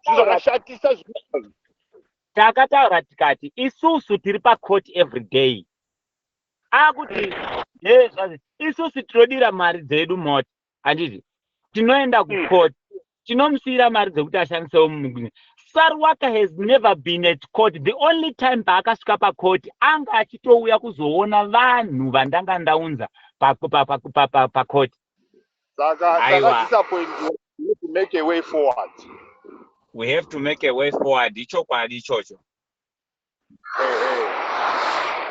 zvakashatisa zvinazvi takataura tikati isusu tiri pacourt every day akuti he zvazi isusu tinodira mari dzedu moti handiti tinoenda hmm. kucourt tinomusiyira mari dzekuti ashandisewo mumugwini sarwaka has never been at court the only time paakasvika pacourt anga achitouya kuzoona vanhu vandanga ndaunza pacourt saka We need to make a way forward. We have to make a way forward. Ichokwadi ichocho.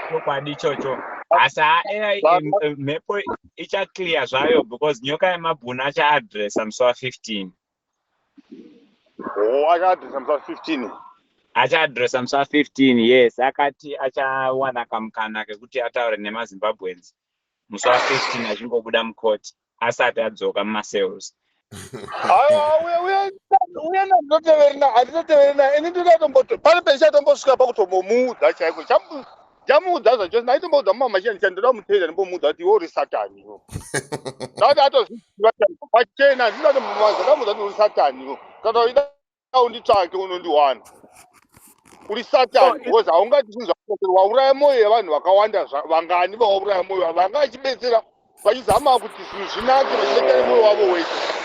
Ichokwadi ichocho. Asi AI mhepo icha clear zvayo because nyoka yemabhuna acha addressa musi wa 15. Oh, acha addressa musi wa 15. Acha addressa musi wa 15. Yes, akati achawana kamukana kekuti ataure nemaZimbabweans musi wa 15 achingobuda mukoti. asati adzoka mumacells uye nandoteveri na handitoteveri na ini ndinotomboto pano pendichatombosvika pakutombomuudza chaiko ndamuudza zvachose ndaitomboudza mumamachiyani chani ndoda kumutevera ndimbomuudza kuti iwe uri satani iwo ndakuti atozviziva chaiko pachena ndinotomuudza ndamuudza kuti uri satani iwo kana uida unditsvake unondiwana uri satani because haungati zvinhu zvakati wauraya mwoyo yevanhu vakawanda vangani vawauraya mwoyo vanga vachibetsera vachizama kuti zvinhu zvinake vachirekere mwoyo wavo wese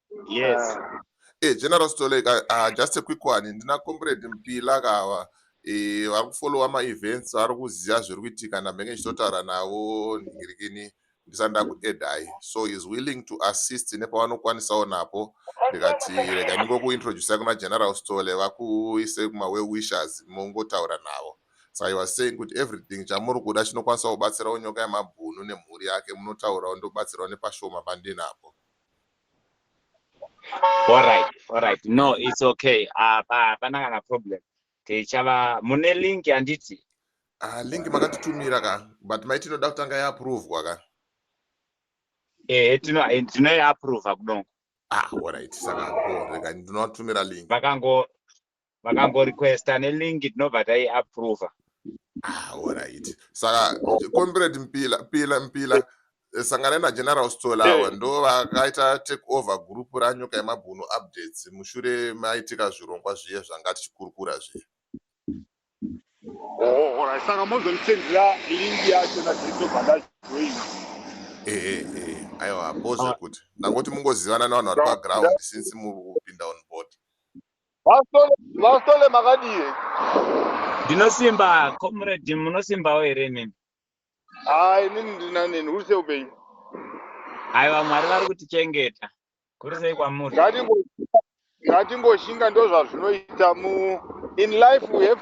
yes ah. eh general stolek uh, ah, ah, just a quick one ndina comrade mpila kawa eh vari kufollowa maevents vari kuziva zviri kuitika ndambenge ndichitotaura navo ndingirikini ndisanda kuedai so is willing to assist nepavanokwanisawo napo ndikati rega ndingokuintroducea kuna general stole vakuise kumawe wishers mongotaura navo so i was saying kuti everything chamuri kuda chinokwanisa kubatsirawo nyoka yemabhunu nemhuri yake munotaurawo ndobatsirawo nepashoma pandinapo Alright, alright. No, it's okay. Apa ah, hapana kana problem. Tichava mune link handiti? Ah, link makatitumira ka, but mai tinoda kutanga yaaprovwa ka. Eh, tino eh, tino yaaprovwa kudongo. Ah, alright. Saka ko rega ndinotumira link. Vakango vakambo requesta nelink tinobva taiapprova ah, orit saka comrade mpila mpila mpila eh, sanganai nageneral stola awa eh. ndo vakaita take over gurupu ranyuka yemabhunu updates mushure maitika zvirongwa zviye zvanga tichikurukura zviye oh, saka mozondisendera lingi yacho nadirikobvandajoina eh, aiwa bozvekuti ah. ndangoti mungozivana nevanhu vari paground since muri kupinda on board Vasole, vasole makadii? Ndinosimba comrade, munosimbawo here imimi? Ah, inini ndina nini, uri sei upenyu? Aiwa, Mwari vari kutichengeta. Kuri sei kwamuri? Ngatingoshinga, ngatingoshinga ndozvazvinoita mu in life we have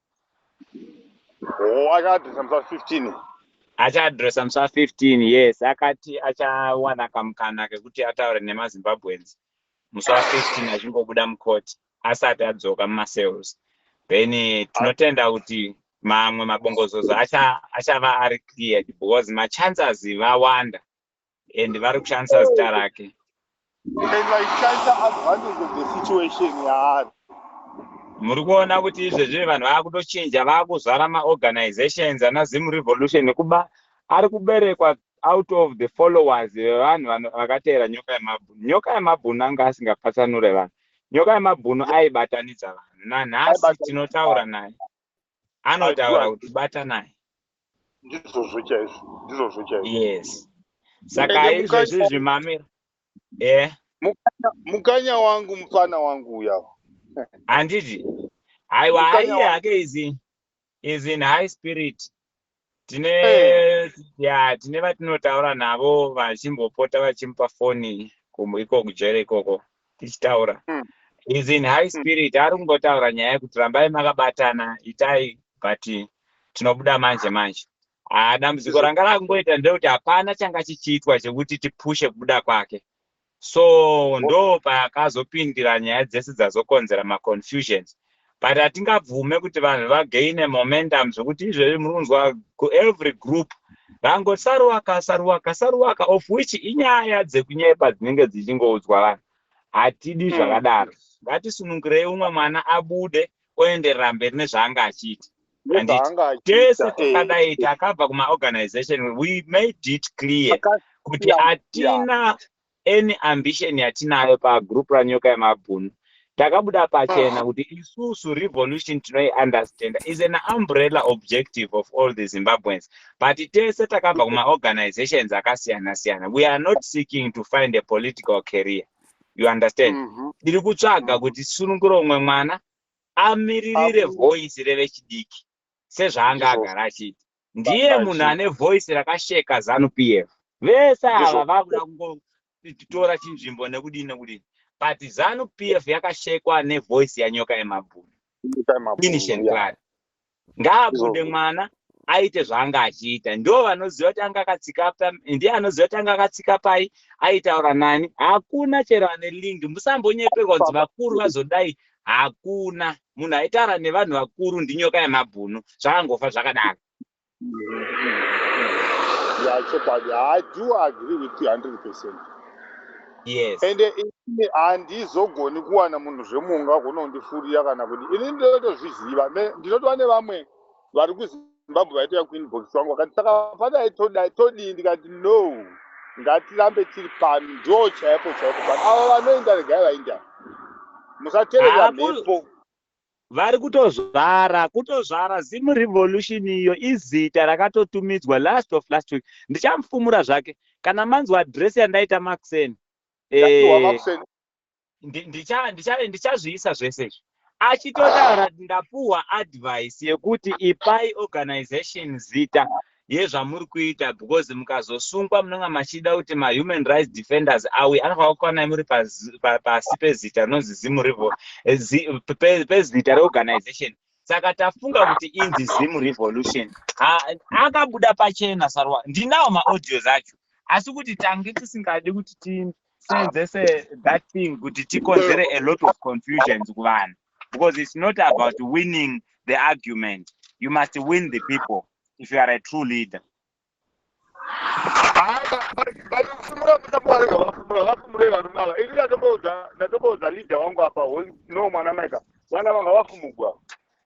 Oh, akaadresa musi wa 15. achaadresa musi wa 15 yes akati achawana kamukana kekuti ataure nemazimbabweans musi wa 15 achingobuda mucourt asati adzoka mumacells then eh, tinotenda kuti mamwe mabongozozo acha- achava ari cleared because machances vawanda and vari kushandisa zita rake and vachishandisa advantage of the situation yaari muri kuona kuti izvezvi vanhu vaakutochinja vaakuzvara maorganizations ana zim revolution nekuba ari kuberekwa out of the followers vevanhu vakateera nyoka yemabhunu nyoka yemabhunu anga asingapatsanure vanhu nyoka yemabhunu aibatanidza vanhu nanhasi tinotaura naye anotaura kuti bata naye ndizvozvo chaizvo ndizvozvo chaizvo yes saka izvezvi zvimamira e mukanya wangu mufana wangu uya handiti aiwa aiye hake izi is in high spirit tine ya tine vatinotaura navo vachimbopota vachimupa foni iko kujere ikoko tichitaura mm. is in high mm. spirit ari kungotaura nyaya yekuti rambai makabatana itai but tinobuda manje manje haa dambudziko ranga rakungoita ndekuti hapana changa chichiitwa chekuti tipushe kubuda kwake So ndoopayakazopindira nyaya dzese dzazokonzera maconfusions but hatingabvume kuti vanhu vagaine momentum zvekuti izvezvi muri kunzwa kuevery group vangoti saruwaka saruwaka saruwaka of which inyaya dzekunyepa dzinenge dzichingoudzwa vanhu hatidi mm. zvakadaro ngatisunungirei umwe mwana abude oenderera mberi nezvaanga achiita tese takadai takabva kumaorganization we made it clear kuti hatina any ambition yatinayo pagroup ranyoka yemabhunu takabuda pachena ah. kuti isusu revolution tinoiunderstanda is an umbrella objective of all the zimbabweans but tese takabva kumaorganizations akasiyana siyana we are not seeking to find a political career you understand mhm. tiri kutsvaga mhm. kuti tisunungure umwe mwana amiririre voice revechidiki sezvaanga agara achiita ndiye munhu ane voice rakasheka zanu p f vese ava vakuda kungotora chinzvimbo nekudii nekudii but zanu p f yakashekwa nevoice yanyoka yemabhunu ngaabude mwana aite zvaanga achiita ndo vanoziva kuti anga akatsika after ndiye anoziva kuti anga akatsika pai aitaura nani hakuna chero ane link musambonyeperwa kuti vakuru vazodai hakuna munhu aitaura nevanhu vakuru ndinyoka yemabhunu zvakangofa zvakadaro yachokwadi i do agree with you 100 percent yes ende ini handizogoni kuwana munhu zvemunga unondifurira kana kuti ini ndinotozviziva ndinotova nevamwe vari kuzimbabwe vaitouya kuinbox vangu vakati saka padai todii ndikati no ngatirambe tiri pano ndo chaipo chaipo pano ava vanoenda regai vainda musaterera mhepo Vari kutozvara, kutozvara, Zim Revolution iyo izita rakatotumidzwa last of last week. Ndichamufumura zvake kana manzwa address yandaita Maxen. Eh, ndichazviisa zvese izvi. Achitotaura ndapuwa advice yekuti ipai organization zita yezvamuri kuita because mukazosungwa munonga machida kuti mahuman rights defenders awi anofanira kuwanai muri pasi pezita rinonzi zimu revo eh, pezita reorganization saka tafunga kuti inzi zimu revolution akabuda pachena sarwa ndinawo maaudios acho asi kuti tange tisingadi kuti tisenzese that thing kuti tikonzere a lot of confusions kuvanhu because it's not about winning the argument you must win the people if you are a true leader ndatoboudza leader wangu apa no mwana maika vana vanga vafumugwa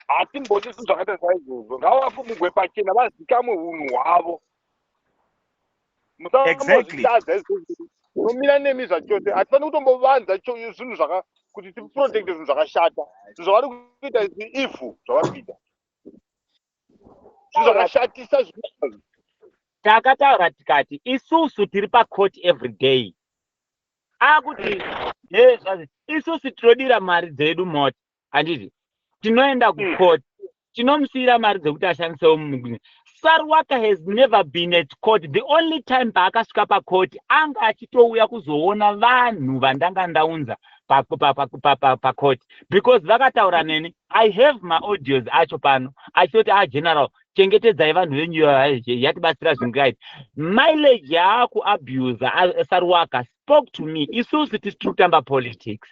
hatimboti zvinhu zvakaita saizvozvo ngavafumugwe pachena vazikamwe unhu hwavo musaomira nemi zvachose hatitani kutombovanza zvinhu zvaka kuti tiprotecte zvinhu zvakashata zvinhu zvavari kuita isi ifu zvavari kuita zvinhu zvakashatisa zvinhu takataura tikati isusu tiri pacourt every day akuti hezvazvi isusu tinodira mari dzedu moti handiti tinoenda hmm. kucourt tinomusiyira mari dzekuti ashandisewo mumigwini saruwaka has never been at court the only time paakasvika pacourt anga achitouya kuzoona vanhu vandanga ndaunza pacourt because vakataura neni i have maaudios acho pano achitoti ageneral ah, chengetedzai vanhu venyu yatibatsira zvingaiti mileage yaakuabusa saruwaka spoke to me isusu tisi tiri kutamba politics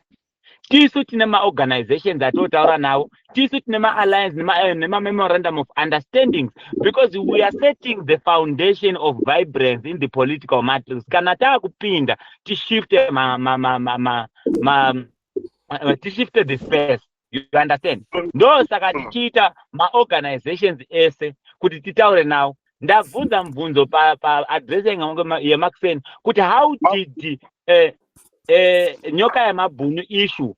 tisu tine maorganizations atiotaura navo tisu tine maalliance eh, nemamemorandum of understandings because we are setting the foundation of vibrance in the political matrix kana taakupinda tishifte tishifte the space you understand ndo saka tichiita maorganizations ese kuti titaure nawo ndabvunza mubvunzo paadress pa yainga yemakuseni kuti how did uh, eh, nyoka yemabhunu issue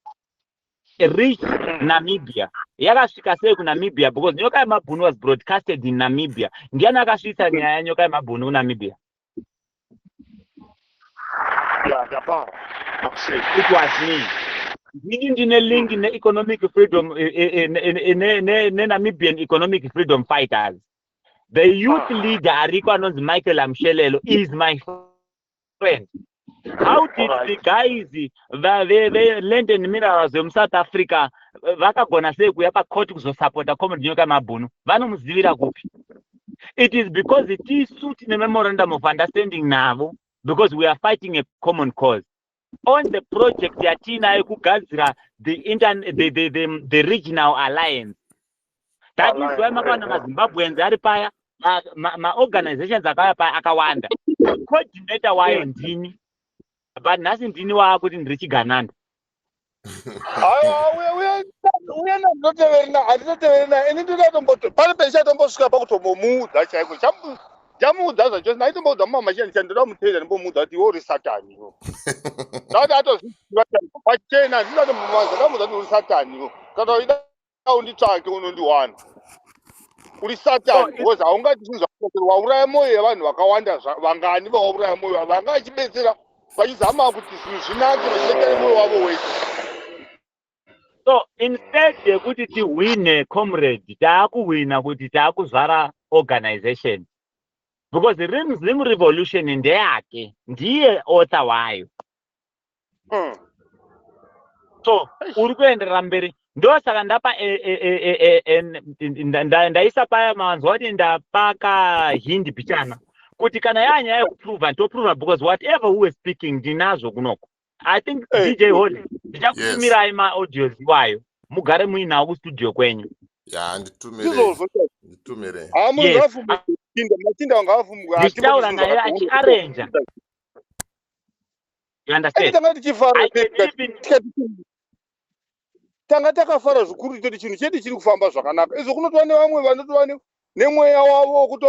reach namibia yakasvika sei kunamibia because nyoka yemabhunu was broadcasted in namibia ndiani akasvitsa nyaya yanyoka yemabhunu kunamibia it was me ndini ndine link neeconomic freedom eh, eh, eh, nenamibian economic freedom fighters the youth ah. leader ariko anonzi michael amshelelo is my friend how did the guys velondon mirrors vemusouth africa vakagona sei kuuya pacourt kuzosapota comrade nyoka mabhunu vanomuzivira kupi it is because tisu tine memorandum of understanding navo because we are fighting a common cause on the project yatiinayo kugadzira the, the, the, the, the regional alliance that is why makawana mazimbabweans ari paya maorganizations akauya paya akawanda coordinator wayo ndini but nhasi ndini waakuti ndiri chigananda uye nandoteveri na handitoteveri naye ini ndinotomboto pane peichatombosvika pakutombomuudza chaiko chamuudza zvachose ndaitomboudza mumamachina ndicha ndoda kumutevera ndimbomuudza kuti iwe uri satani iwo ndakuti atozviziva chaiko pachena ndinatomuudza ndamuudza kuti uri satani iwo kana ida unditsvake unondiwana uri satani because haungati zvinhu zvakati wauraya mwoyo yevanhu vakawanda vangani vawauraya mwoyo vanga vachibetsera vachizama kuti zvinhu zvinake vachirekere mwoyo wavo wese so instead yekuti tihwine comrade taakuhwina kuti taakuzvara organization because remzim revolution ndeyake ndiye author wayo mm. so uri kuenderera mberi ndosaka ndapa eh, eh, eh, ndaisa paya mawanzwa kuti ndapaka hindi pichana kuti kana yanyaya yekuprova ndoprova because whatever who was speaking ndinazvo kunoko i think dj hole ndichakutumirai maaudios iwayo mugare muinawo kustudio kwenyu ndichitaura naye achiarenja you understand tanga tichifara tanga takafara zvikuru titoti chinhu chedu chiri kufamba zvakanaka izvo kunotova nevamwe vanotova nemweya wavo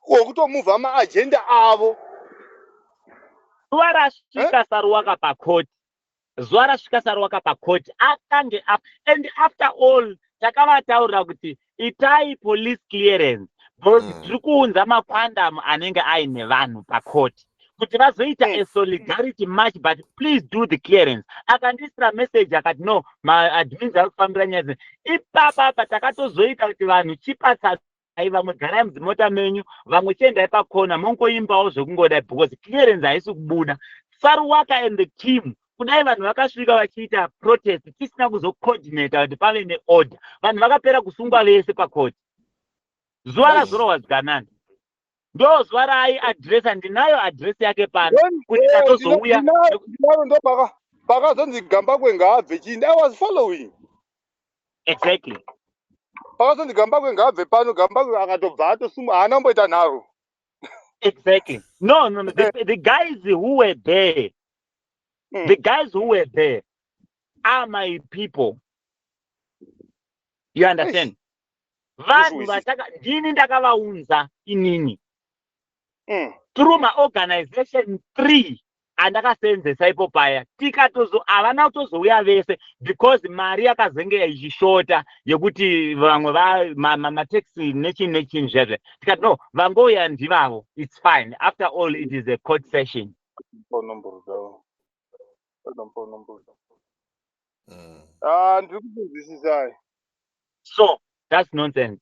wekutomuvha maajenda avo zuva rasvika eh? saruwaka pakoti zuva rasvika saruwaka pakoti akange and after all takavataurira kuti itai police clearance because mm. tiri kuunza makwandam anenge aine vanhu pakoti kuti vazoita a solidarity march but please do the clearance akandiisira message akati no maadmins ari kufambira nyaya dzine ipapa apa takatozoita kuti vanhu chipasa ai vamwe garai mudzimota menyu vamwe chiendai pakona mongoimbawo zvekungoda because clearance haisi kubuda saruwaka and the team kudai vanhu vakasvika vachiita protest tisina kuzocoordinata kuti pave neorder vanhu vakapera kusungwa vese pakoti zuva razorohwa zikanani ndo zuva raai adresa ndinayo adresi yake pano kuti tatozouya pakazonzi gamba kwengaabve chini i was following exactly pakazonzi gamba kwengaabve pano gamba akatobva atosuma haana kumboita nharo exactly no no, no. The, the guys who were there mm. the guys who were there are my people you understand vanhu vataka ndini ndakavaunza inini mm. through maorganization three andakaseenzesa ipo paya tikatozo havana kutozouya vese because mari yakazenge yaichishota yekuti vamwe vamataxi nechinhu nechinhu zvazve tikati no vangouya ndivavo its fine after all it is a court session Ndomupawo nomboro dzavo. Ndomupawo nomboro dzavo. Mm. Ah, ndiri kukunzwisisa hai. so thats nonsense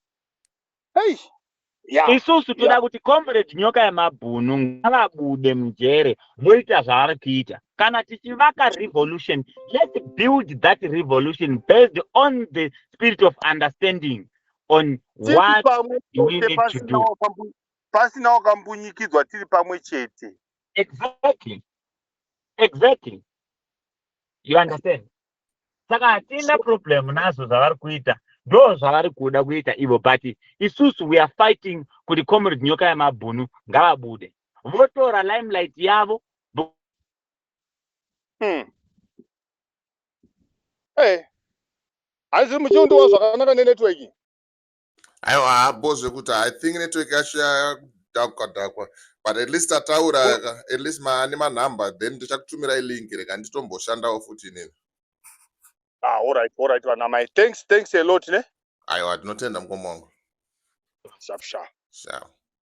Hey. Yeah. isusu toda Yeah. kuti comrade nyoka yemabhunu ngavabude mujere voita zvavari kuita kana tichivaka revolution let's build that revolution based on the spirit of understanding on Tiri what pamwe do we tose need to pasina do? wakambo- pasina wakambunyikidzwa tiri pamwe chete exactly exactly you understand saka hatina problem nazvo zvavari kuita ndo zvavari kuda kuita ivo but isusu we are fighting kuti comrade nyoka yamabhunu ngavabude votora limelight yavo hmm. eh, hanzi muchiundiwa zvakanaka nenetworki aiwa habo zvekuti i think network yacho yakudhakwa dhakwa but at least tataura at least maane manumber then ndichakutumirai link rega nditomboshandawo futi inini ah, alright alright vana mai thanks thanks a lot ne aiwa tinotenda mukoma wangu sharp sharp sharp